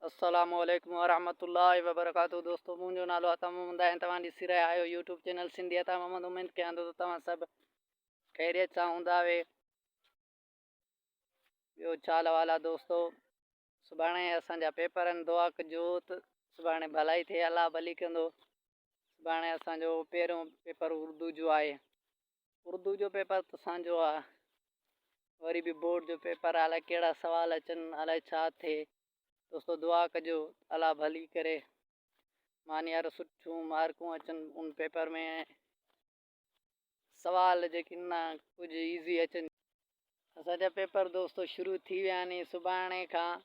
السلام عليڪم ورحمة الله وبرڪاته دوستو منهنجو نالو عطا محمد آهي ۽ توهان ڏسي رهيا آهيو يوٽيوب چينل سنڌي عطا محمد اميد ڪيان ٿو ته توهان سڀ خيريت سان هوندا اهي ٻيو ڇا لوال آ دوستو سڀاڻي اسان جا پيپر آهن دعا ڪجو ته سڀاڻي ڀلائي ٿئي الله ڀلي ڪندو سڀاڻي اسان جو پهريون پيپر اردو جو آهي اردو جو پيپر ته سانجهو آ وري به بورڊ جو پيپر آ الائي ڪهڙا سوال اچن الائي ڇا ٿئي دوستو دعا ڪجو الله ڀلي ڪري مان يار سٺيون مارڪون اچن ان پيپر ۾ سوال جيڪي نه ڪجهه ايزي اچن اسان جا پيپر دوستو شروع ٿي ويا آهن سڀاڻي کان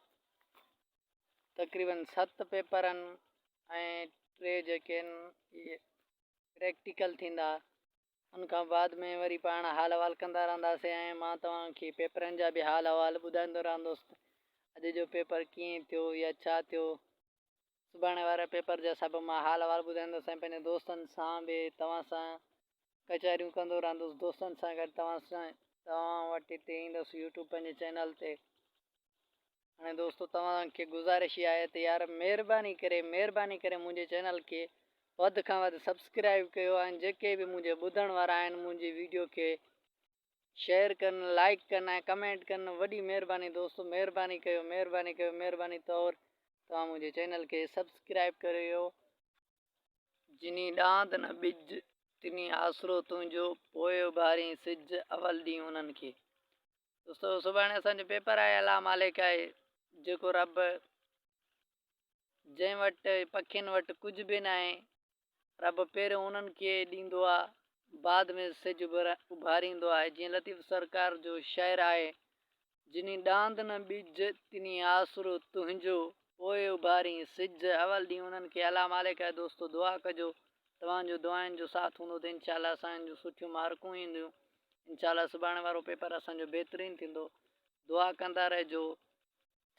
تقريبن ست پيپر آهن ۽ ٽي جيڪي آهن اهي پريڪٽيڪل ٿيندا ان کان بعد ۾ وري پاڻ حال احوال ڪندا رهنداسين ۽ مان توهانکي پيپرن جا به حال احوال ٻڌائيندو رهندوس اڄ جو پيپر ڪيئن ٿيو يا ڇا ٿيو سڀاڻي واري پيپر جا سڀ مان حال احوال ٻڌائيندس ۽ پنهنجي دوستن سان به توهان سان ڪچهريون ڪندو رهندس دوستن سان گڏ توهان سان توهان وٽ هتي ايندس يوٽيوب پنهنجي چينل تي هاڻي دوستو توهان کي گزارش اها آهي ته يار مهرباني ڪري مهرباني ڪري منهنجي چينل کي وڌ کان وڌ سبسڪرائب ڪيو ۽ جيڪي به منهنجي ٻڌڻ وارا آهن منهنجي ويڊيو کي شيئر ڪن لائيڪ ڪن ۽ ڪمينٽ ڪن وڏي مھرباني دوستو مھرباني ڪيو مھرباني ڪيو مھرباني طور توھان منھنجي چينل کي سبسڪرائب ڪريو. جنھين ڏاند نه ٻج تنھين آسرو تنھنجو پوء اڀارين سج اول ڏينھن انھن کي دوستو سڀاڻي اسان جو پيپر آھي الله مالڪ آھي جيڪو رب جنھن وٽ پکين وٽ ڪجھ به ناھي رب پهريون انهن کي ڏيندو آ بعد ۾ سج اڀاريندو آ جيئن لطيف سرڪار جو شعر آهي جني ڏاند نه ٻج تني آسرو تنهنجو پوء اڀارين سج اول ڏينهن انهن کي الام عليڪه دوستو دعا ڪجو توهان جو دعائن جو ساٿ هوندو ته انشاء الله اسان جون سٺيون مارڪون اينديون انشاء الله سڀاڻي وارو پيپر اسان جو بهترين ٿيندو دعا ڪندا رهجو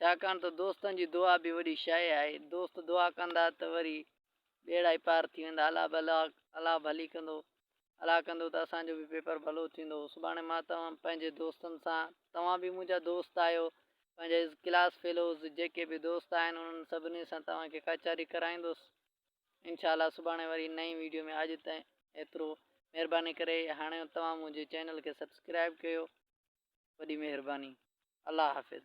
ڇاڪاڻ ته دوستن جي دعا به وڏي شيء آهي، دوست دعا ڪندا ته وري ٻيڙا ئي پار ٿي ويندا، الله به الله ڀلي ڪندو، الله ڪندو ته اسان جو به پيپر ڀلو ٿيندو، سڀاڻي مان توهان پنهنجي دوستن سان، توهان به منهنجا دوست آهيو، پنهنجا ڪلاس فيلوز جيڪي به دوست آهن انهن سڀني سان توهان کي ڪچهري ڪرائيندس، انشاء الله سڀاڻي وري نئين ويڊيو ۾ اڄ تائين ايترو مهرباني ڪري هاڻي توهان منهنجي چينل کي سبسڪرائب ڪيو وڏي مهرباني الله حافظ